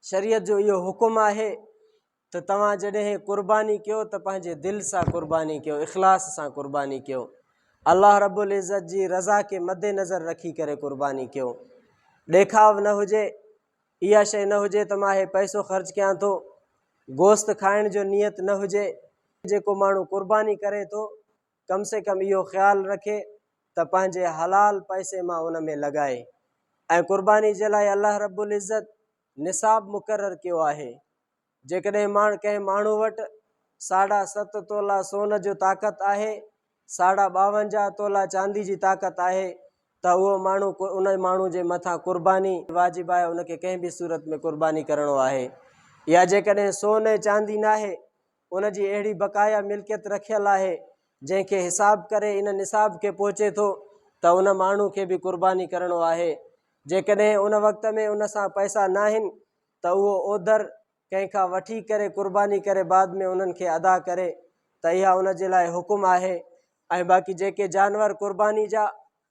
شريعت جو اهو حڪم آهي ته توهان جڏهن قرباني ڪيو ته پنهنجي دل سان قرباني ڪيو اخلاص سان قرباني ڪيو الله رب العزت جي رضا کي مد نظر رکي ڪري قرباني ڪيو ڏيکاو نه هجي اها شيء نه هجي ته مان هي پئسو خرچ ڪيان ٿو گوشت کائڻ جو نيت نه هجي جيڪو ماڻهو قرباني ڪري ٿو ڪم سي ڪم اهو خيال رکي ته پنهنجي حلال پئسي مان ان ۾ لڳائي ۽ قرباني جي لاء الله رب العزت نصاب مقرر ڪيو آهي. جيڪڏهن ماڻ ڪنهن ماڻهو وٽ ساڍا ست تولا سون جو طاقت آهي، ساڍا ٻاونجاهه تولا چاندي جي طاقت آهي ته اهو ماڻهو ان ماڻهو جي مٿان قرباني واجب آهي ان کي ڪنهن به صورت ۾ قرباني ڪرڻو آهي يا جيڪڏهن سون ۽ چاندي ناهي ان جي اهڙي بقايا ملڪيت رکيل آهي جنهن کي حساب ڪري ان نصاب کي پهچي ٿو ته ان ماڻهو کي به قرباني ڪرڻو آهي جيڪڏهن ان وقت ۾ ان سان پئسا ناهن ته اهو اوڌر ڪنهن کان وٺي ڪري قرباني ڪري بعد ۾ انهن کي ادا ڪري ته اها ان جي لاء حڪم آهي ۽ باقي جيڪي جانور قرباني جا